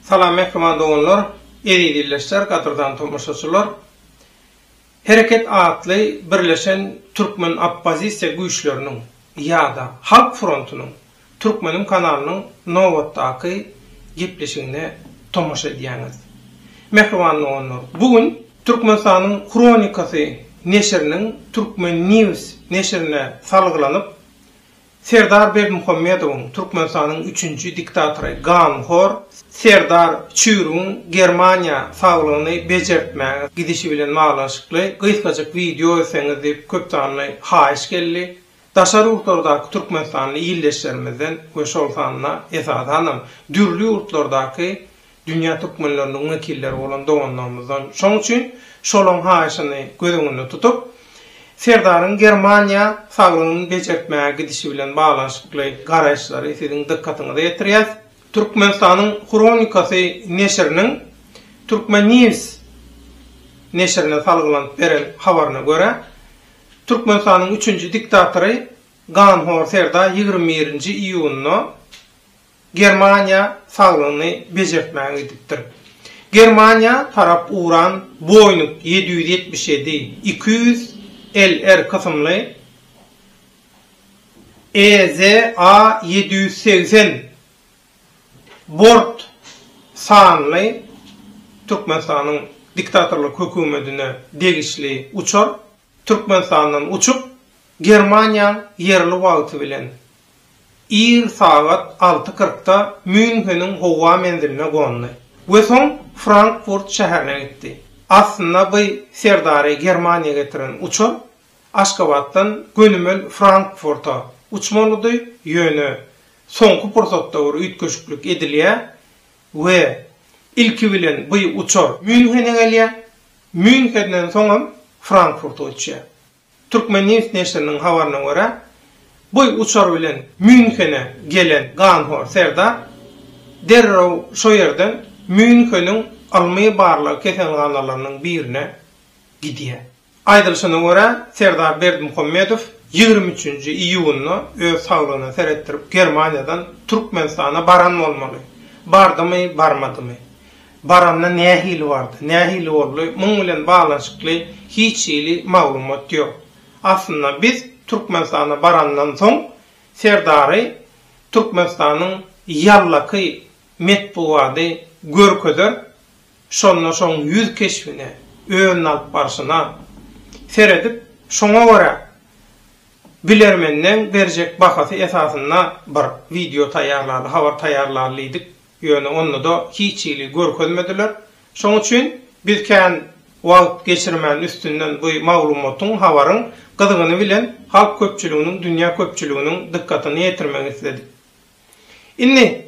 Salam mähriban doganlar, eziz ildeşler, gadyrdan tomaşaçylar. Hereket atly birleşen türkmen oppozisiýa güýçleriniň ýa-da Halk frontunyň Turkmenim kanalynyň nobatdaky gepleşigine tomaşa edýäňiz. Mähriban doganlar, bu gün Türkmenistanyň Hronikasy neşiriniň Turkmen. News neşirine salgylanyp, Serdar Berdimuhamedowyň, Türkmenistanyň üçünji diktatory, ganhor Serdar Çürigiň Germaniýa saglygyny bejertmäge gidişi bilen baglanyşykly gysgajyk wideo etseňiz diýip köpsanly haýyş geldi. Daşary ýurtlardaky türkmenistanly ildeşlerimizden we şol sanda, esasanam, dürli ýurtlardaky dünýä türkmenleriniň wekilleri bolan doganlarymyzdan, şoň üçin şolaryň haýyşyny göz öňünde tutup, Serdaryň Germaniýa saglygyny bejertmäge gidişi bilen baglanyşykly garaýyşlary siziň dykgatyňyza ýetirýäs. Türkmenistanyň hronikasy neşiriniň Turkmennews neşirine salgylanyp beren habaryna görä, Türkmenistanyň üçünji diktatory ganhor serdar ýigrimi birinji iýunda Germaniýa salgyny bejertmäge gidipdir. Germaniýa tarap uran Boeing ýedi ýüz ýetmiş ýedi, iki ýüz LR kysymly EZA ýedi ýüz segsen Bort sanly Türkmenistanyň diktatorlyk hökümetine degişli uçar Türkmenistandan uçup, Germaniýaň ýerli wagty bilen ir sagat alty kyrkda Mýunheniň howa menziline gondy we soň Frankfurt şäherine gitdi. Aslynda by serdary Germaniýa getiren uçar Aşgabatdan gönümel Frankfurta uçmalydy, ýöne Soňky pursatda bir üýtgeşiklik edilýär we ilki bilen bu uçar Mýunhene gelýär, Mýunhenden soňam Frankfurta uçýar. Turkmennews neşiriniň habaryna görä, bu uçar bilen Mýunhene gelen ganhor serdar derrew şo ýerden Mýunheniň ylmy-barlag keselhanalarynyň birine gidýär. Aýdylyşyna görä, Serdar Berdimuhamedow ýigrimi üçünji iýunda öz saglygyna seretdirip Germaniýadan Türkmenistana baran bolmaly. Bardymy, barmadymy? Baranda nähili bardy, nähili boldy, muň bilen baglanyşykly hiç hili maglumat ýok. Aslynda biz Türkmenistana barandan soň Serdary Türkmenistanyň ýallaky metbugady görkezer Şonda şoň ýüz keşbine, özüni alyp barşyna seredip, şoňa görä bilermenleň berjek bahasy esasynda bir wideo taýýarlaly, habar taýýarlaly diýdik, ýöne onda-da hiç hili görkezmediler. Şoň üçin biz kän wagt geçirmän üstünden bu maglumatyň, habaryň gyzgyny bilen halk köpçüliginiň, dünýä köpçüliginiň dykgatyny ýetirmek isledik. Indi,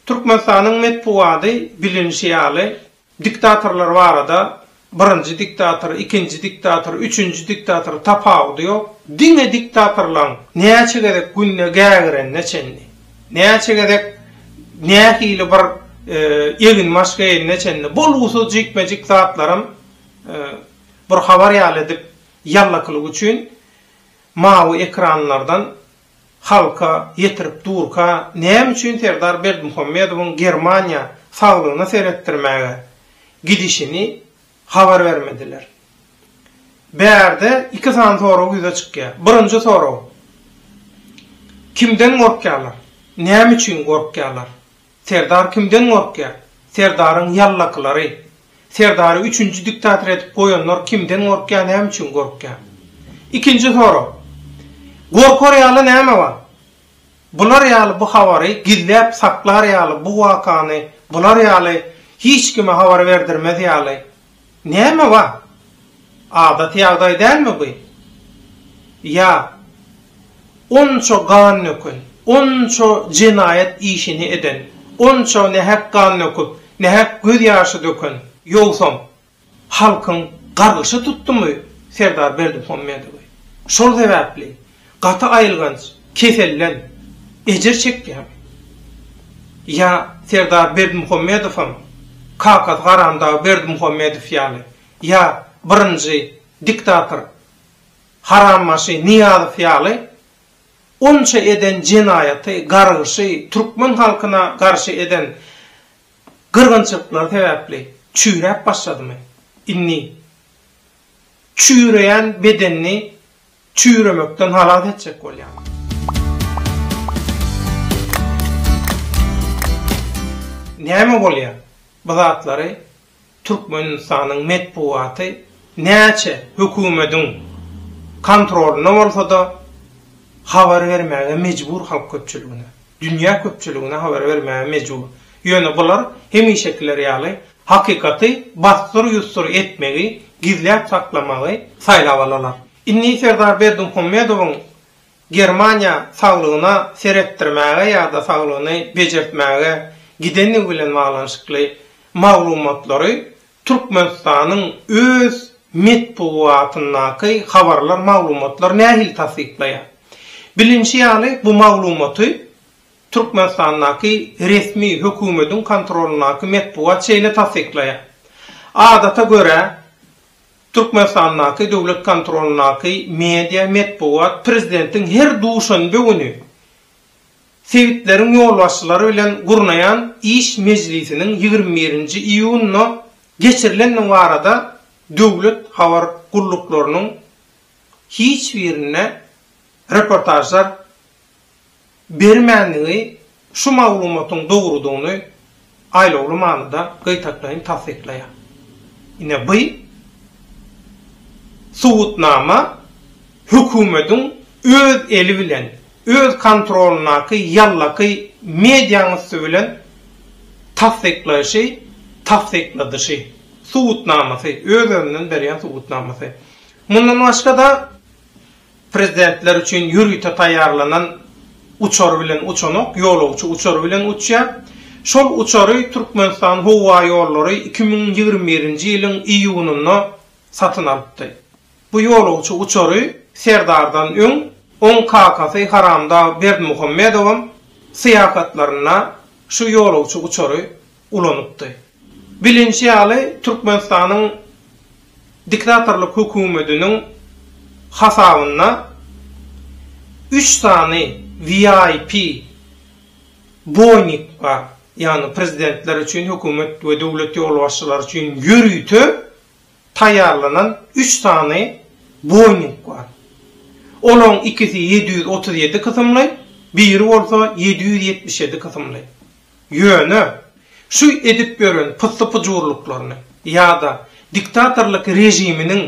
Türkmenistanyň metbugady bilinişi ýaly, diktatorlar barada birinji diktator, ikinji diktator, üçünji diktator tapawudy ýok, diňe diktatorlaň näçe gezek günde gägirenine çenli, näçe gezek nähili bir eginbaş geýenine çenli bolgusyz jikme-jik zatlaram bir habar ýaly edip ýallakylyk üçin mawy ekranlardan Halka ýetirip durka näme üçin Serdar Berdimuhamedowyň Germaniýa saglygyna seretdirmäge gidişini habar bermediler? Bärde iki sany sorag ýüze çykýar. Birinji sorag, Kimden gorkýarlar? Näme üçin gorkýarlar? Serdar kimden gorkýar? Serdaryň ýallakylary. Serdary üçünji diktator edip goýanlar kimden gorkýar näme üçin gorkýar? Ikinji sorag. Gorkar ýaly näme bar? Bular ýaly bu habary gizläp saklar ýaly bu wakany bular ýaly hiç kime habar berdirmez ýaly Näme bar? Adaty ýagdaý dälmi bu? Ýa onça gan döken, onça jenaýat işini eden, onça nähak gan döküp, nähak göz ýaşy döken, ýogsam halkyň gargyşy tutdumy Serdar Berdimuhamedowy? Şol sebäpli Gaty aýylganç keselden ejir çekýän ýa Serdar Berdimuhamedowam kakasy Haramdag Berdimuhamedow ýaly ýa birinji diktator Harambaşy Nyýazow ýaly onça eden jenaýaty, gargyşy, türkmen halkyna garşy eden gyrgynçylyklary sebäpli çüýräp başladymy? Indi çüýreýän bedenini çüýremekden halas etjek bolýar. Näme bolýar? Bu zatlary Türkmenistanyň metbugaty näçe hökümediň kontrolynda bolsa-da habar bermäge mejbur halk köpçüligine, dünýä köpçüligine habar bermäge mejbur. Ýöne bular hemişekiler ýaly Hakykaty bassyr-ýussur etmegi, gizläp saklamagy saýlap alalar. Indi Serdar Berdimuhamedowyň Germaniýa saglygyna seretdirmäge ýa-da saglygyny bejertmäge gidendigi bilen baglanyşykly maglumatlary Türkmenistanyň öz metbugatyndaky habarlar, maglumatlar nähili tassyklaýar? Bilinişi ýaly, bu maglumaty Türkmenistandaky resmi hökümediň kontrolyndaky metbugat şeýle tassyklaýar. Adata görä, Türkmenistandaky döwlet kontrolyndaky media, metbugat prezidentiň her duşenbe güni sebitleriň ýolbaşçylary bilen gurnaýan iş mejlisiniň ýigrimi birinji iýunda geçirilendigi barada döwlet habar gulluklarynyň hiç birinde reportažlar bermändigi şu maglumatyň dogrudygyny aýlawly manyda gytaklaýyn tassyklaýar. Ine by subutnama hökümediň öz eli bilen, öz kontrolyndaky ýallaky mediaň üsti bilen tassyklaýşy, tassykladyşy, subutnamasy, öz-özünden berýän subutnamasy. Mundan başga-da Prezidentler üçin ýörite taýýarlanan uçar bilen uçanok, ýolagçy uçary bilen uçýar. Şol uçary Türkmenistan howa ýollary iki müň ýigrimi birinji ýylyň iýunynda satyn alypdy. Bu ýolagçy uçary Serdardan öň, oň kakasy Haramdag Berdimuhamedowam syýahatlarynda şu ýolagçy uçary ulanypdy. Bilinşi ýaly, Türkmenistanyň diktatorlyk hökümetiniň hasabynda üç sany VIP Boeing bar, ýagny prezidentler üçin, hökümet we döwlet ýolbaşçylary üçin ýörite taýýarlanan üç sany Boeing bar. Olaryň ikisi ýedi ýüz otuz ýedi kysymly, biri bolsa ýedi ýüz ýetmiş ýedi kysymly. Ýöne, şu edip ýören pyssy-pyjurlyklaryny ýa-da diktatorlyk režiminiň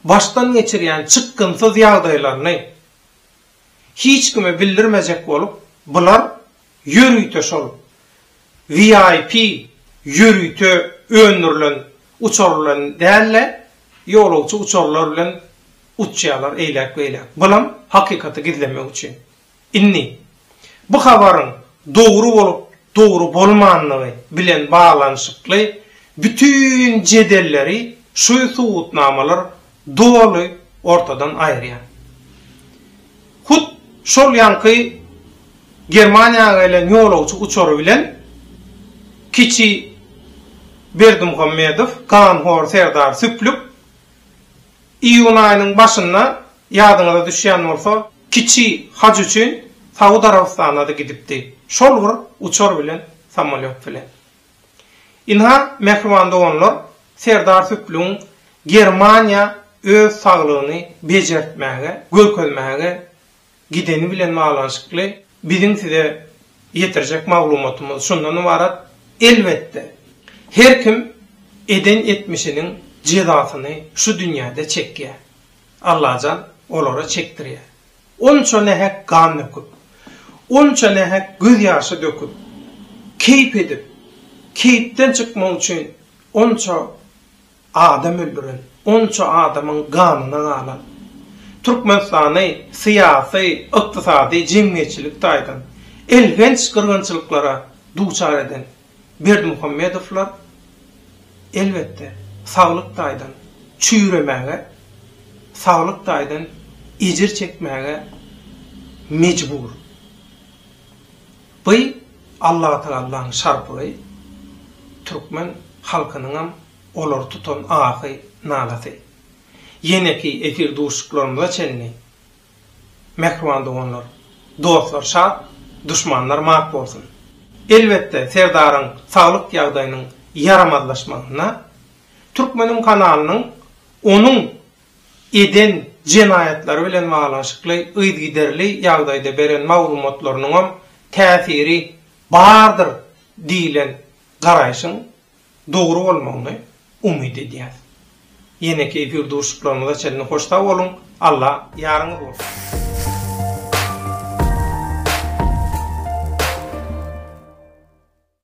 başdan geçirýän çykgynsyz ýagdaýlaryny hiç kime bildirmejek bolup, bular ýörite şol VIP ýörite öndürilen uçar bilen däl-de, ýolagçy uçarlar bilen uçýarlar eýläk-beýläk. Bulam hakykaty gizlemek üçin. Indi, bu habaryň dogry bolup, dogry bolmandygy bilen baglanyşykly bütin jedelleri şu subutnamalar doly ortadan aýyrýar. Hut şol ýaňky Germaniýa gelen ýolagçy uçary bilen kiçi Berdimuhamedow, ganhor serdar Süplük iýun aýynyň başynda Ýadyňyza düşýän bolsa, kiçi haj üçin Saud Arabystana-da gidipdi, şol bir uçar bilen, samolýot bilen. Ynha, mähriban doganlar, Serdar Süplügiň Germaniýa öz saglygyny bejertmäge, görkezmäge gideni bilen baglanyşykly biziň size ýetirjek maglumatymyz şundan ybarat, elbetde, her kim eden etmişiniň jezasyny şu dünýäde çekýär. Allajan olara çekdirýär. Onça nähek gan döküp, onça nähek göz ýaşy döküp, keýp edip, keýpden çykmak üçin onça adam öldüren, onça adamyň ganyna galan, Türkmenistany syýasy, ykdysady, jemgyýetçilik taýdan elhenç gyrgynçylyklara duçar eden, Berdimuhamedowlar, elbetde, saglyk taýdan çüýremäge, saglyk taýdan ejir çekmäge mejbur. By Allatagallaň şarpygy, türkmen halkynyňam olary tutan ahy-nalasy. Ýeneki efir duşuşyklarymyza çenli Mähriban doganlar, dostlar şat, duşmanlar mat bolsun! Elbetde, Serdaryň saglyk ýagdaýynyň ýaramazlaşmagynda Türkmeniň kanalynyň onuň eden jenaýatlary bilen baglanyşykly yzygiderli ýagdaýda beren maglumatlarynyňam täsiri bardyr diýlen garaýşyň dogry bolmagyny umyt edýäs. Ýeneki efir duşuşyklarymyza çenli hoş sag boluň, Alla ýaryňyz bolsun!